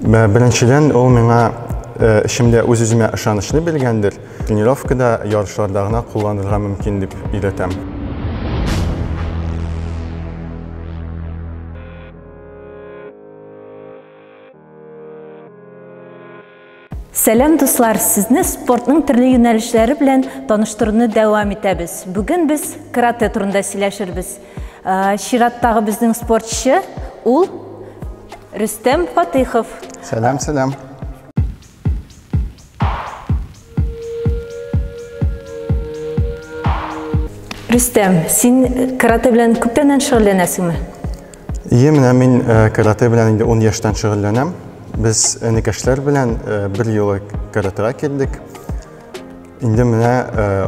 Беренчедән, ул миңа эшемдә үз-үземә ышанычны биргәндер. Тренировкада, ярышларда гына кулланырга мөмкин дип өйрәтәм. Сәлам дуслар, сезне спортның төрле юнәлешләре белән таныштыруны дәвам итәбез. Бүген без карате турында сөйләшербез. Э, чираттагы безнең спортчы ул Рөстәм Фатыйхов. Сәлам, сәлам. Рөстәм, син карате белән күптәннән шөгыльләнәсеңме? Ие, менә мин э, карате белән инде 10 яшьтән шөгыльләнәм. Без энекәшләр белән э, бер юлы каратега килдек. Инде менә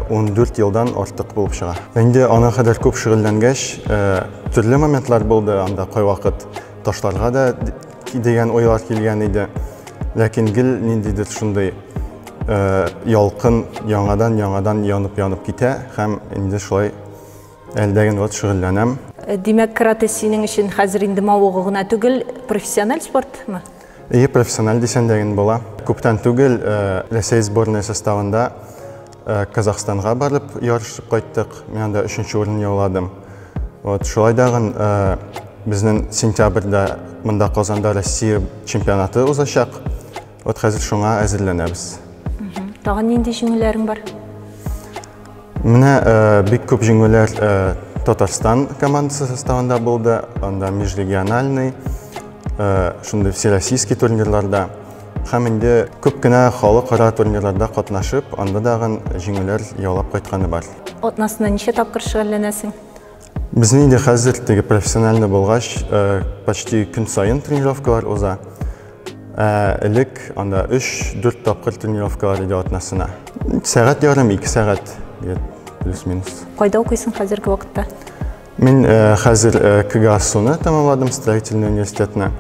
14 э, елдан артык булып чыга. Инде ана кадәр күп шөгыльләнгәч, төрле моментлар булды анда кайвакыт ташларга да дигән ойлар килгән иде. Ләкин гел ниндидер шундый ялкын яңадан-яңадан янып-янып китә һәм инде шулай Әлдә генә ват шөгыльләнәм. Э, димәк, каратэ синең өчен хәзер инде мавыгу гына түгел, профессиональ спортмы? Ие, профессиональ дисәң дә була. Күптән түгел э, Рәсәй сборная составында э, Казахстанга барып ярышып кайттык. Мин анда өченче урын яуладым. Вот, шулай дагын безнең сентябрьдә монда Казанда Россия чемпионаты узачак. Вот хәзер шуңа әзерләнәбез. Тагын нинди җиңүләрең бар? Менә э, бик күп җиңүләр э, Татарстан командасы составында булды, анда межрегиональный, э, шундый всероссийский турнирларда һәм инде күп кенә халыкара турнирларда катнашып, анда дагын җиңүләр яулап кайтканы бар. Атнасына ничә тапкыр шөгыльләнәсең? Безнең инде хәзер теге профессиональный булгач, э, почти көн саен тренировкалар уза. Э, элек анда 3-4 тапкыр тренировкалар иде атнасына. Сәгать ярым, 2 сәгать плюс-минус. Кайда укыйсың хәзерге вакытта? Мин э, хәзер э, КГАСУны тәмамладым, строительный университетны.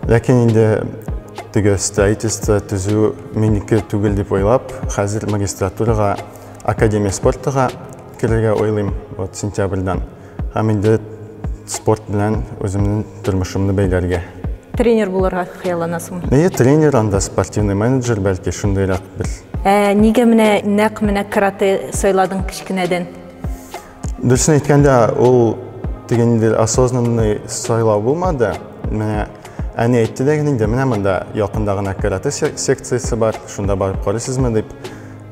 Ләкин инде теге строительство төзү минеке түгел дип уйлап, хәзер магистратурага, академия спортыга керергә уйлыйм вот сентябрьдан. Һәм инде спорт белән үземнең тормышымны бәйләргә. Тренер булырга хыялланасың. Әйе, тренер, анда спортивный менеджер, бәлки шундыйрак бер. Ә нигә менә нәкъ менә карате сайладың кечкенәдән? Дөресен әйткәндә, ул дигәндер осознанный сайлау булмады. Менә әни әйтте дә инде, менә монда якында гына карате секциясе бар, шунда барып карыйсызмы дип.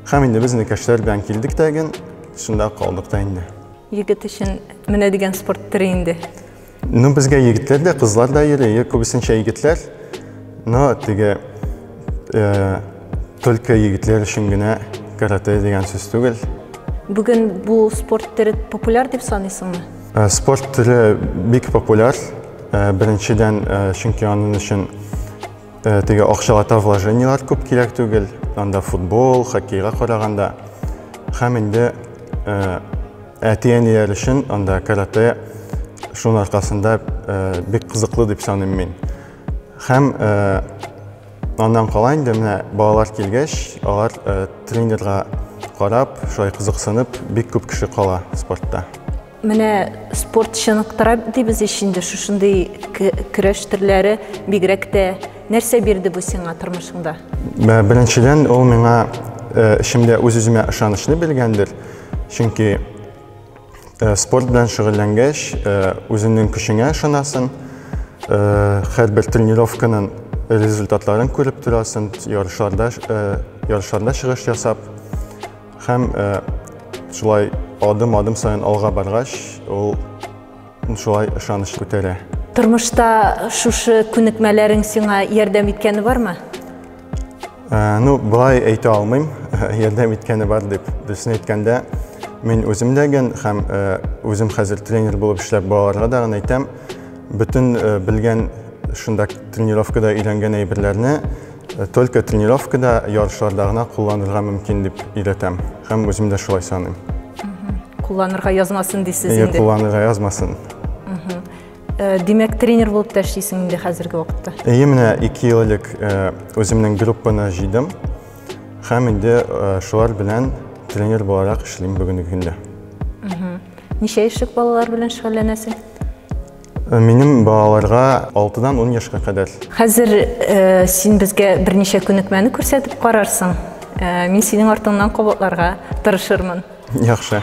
Хәм инде без инекәшләр белән килдек тә ген, шунда калдык та инде. Егет өчен менә дигән спорт төре инде. Ну, безгә егетләр дә, кызлар да йөри, күбесенчә егетләр. Но теге э, только егетләр өчен генә карате дигән сүз түгел. Бүген бу спорт төре популяр дип саныйсыңмы? Э, спорт төре бик популяр. Э, беренчедән, э, чөнки аның өчен Э, теге акчалата вложениелар күп кирәк түгел анда футбол хоккейга караганда һәм инде э, әти әниләр өчен анда каратэ шуның аркасында э, бик кызыклы дип саныйм мин һәм аннан кала инде менә балалар килгәч алар тренерга карап шулай кызыксынып бик күп кеше кала спортта Менә спорт чыныктыра дибез ич инде шушындый көрәш төрләре бигрәк тә нәрсә бирде бу сиңа тормышыңда? Ә, беренчедән, ул миңа ә, эшемдә үз-үземә ышанычны биргәндер. Чөнки ә, спорт белән шөгыльләнгәч, үзеңнең көчеңә ышанасың. Һәрбер тренировканың результатларын күреп торасың, ярышларда ярышларда чыгыш ясап, Һәм шулай адым-адым саен алга баргач, ул шулай ышаныч күтәрә. Тормышта шушы күнекмәләрең сиңа ярдәм иткәне бармы? Ә, ну, былай әйтә алмыйм, ярдәм иткәне бар дип. Дөресен әйткәндә, мин үзем дә ген һәм ә, үзем хәзер тренер булып эшләп балаларга да гына әйтәм, бөтен ә, белгән шунда тренировкада өйрәнгән әйберләрне Только тренировкада, ярышларда гына кулланырга мөмкин дип өйрәтәм һәм үзем дә шулай саныйм. Кулланырга язмасын дисез инде. Кулланырга язмасын. Э, димәк, тренер булып та эшлисең инде хәзерге вакытта. Әйе, менә 2 ел элек э, үземнең группаны җыйдым һәм инде э, шулар белән тренер буларак эшлим бүгенге көндә. Ничә яшьлек балалар белән шөгыльләнәсең? Э, минем балаларга 6-дан 10 яшькә кадәр. Хәзер э, син безгә берничә күнекмәне күрсәтеп карарсың. Э, мин синең артыңнан кабатларга тырышырмын. Яхшы.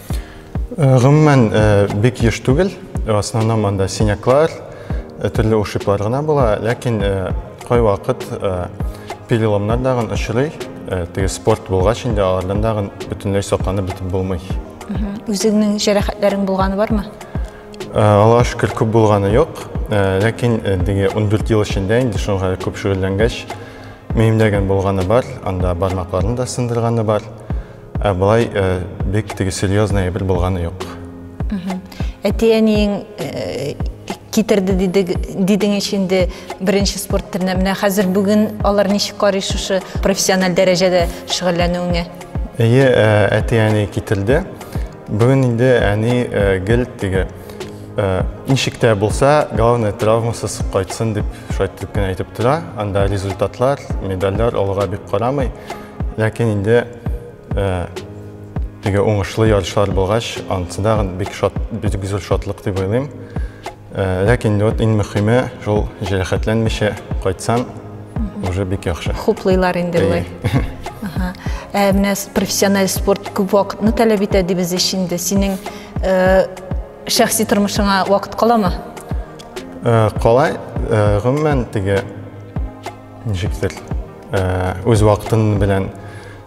Э, гомумән э, бик еш түгел э, основном монда синяклар төрле ушиблар гына була ләкин кайвакыт переломнар дагын очрый теге спорт булгач инде алардан дагын бөтенләй сакланып бетеп булмый үзеңнең җәрәхәтләрең булганы бармы аллага шөкер күп булганы юк ләкин теге ундүрт ел эчендә инде шуңа күп шөгыльләнгәч миемдә генә булганы бар анда бармакларны да сындырганы бар Ә былай э, бик теге серьезный әйбер булганы юк. Әти-әниең э, китерде дидең ич инде беренче спорт төренә. Менә хәзер бүген алар ничек карый шушы профессиональ дәрәҗәдә шөгыльләнүеңә? Әйе, э, әти-әни китерде. Бүген инде әни гел теге ничек тә булса, главное травмасыз кайтсын дип шулай итеп кенә әйтеп тора. Анда результатлар, медальләр алга бик карамый. Ләкин инде теге уңышлы ярышлар булгач, анысы да бик шат, бик зур шатлык дип уйлыйм. Ләкин инде вот иң мөхиме шул җәрәхәтләнмичә кайтсам, уже бик яхшы. Хуплыйлар инде болай. Ә менә профессиональ спорт күп вакытны таләп итә дибез ич инде. Синең шәхси тормышыңа вакыт каламы? Калай, гомумән теге Ничектер, үз вакытың белән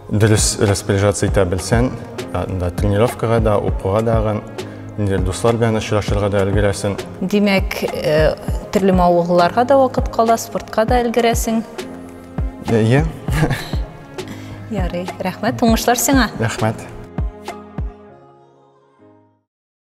дөрес распоряжаться итә белсәң, анда тренировкага да, укуга дагын, инде дуслар белән очрашырга да өлгерәсең. Димәк, төрле мавыгуларга да вакыт кала, спортка да өлгерәсең. Әйе. Ярый, рәхмәт, уңышлар сиңа. Рәхмәт.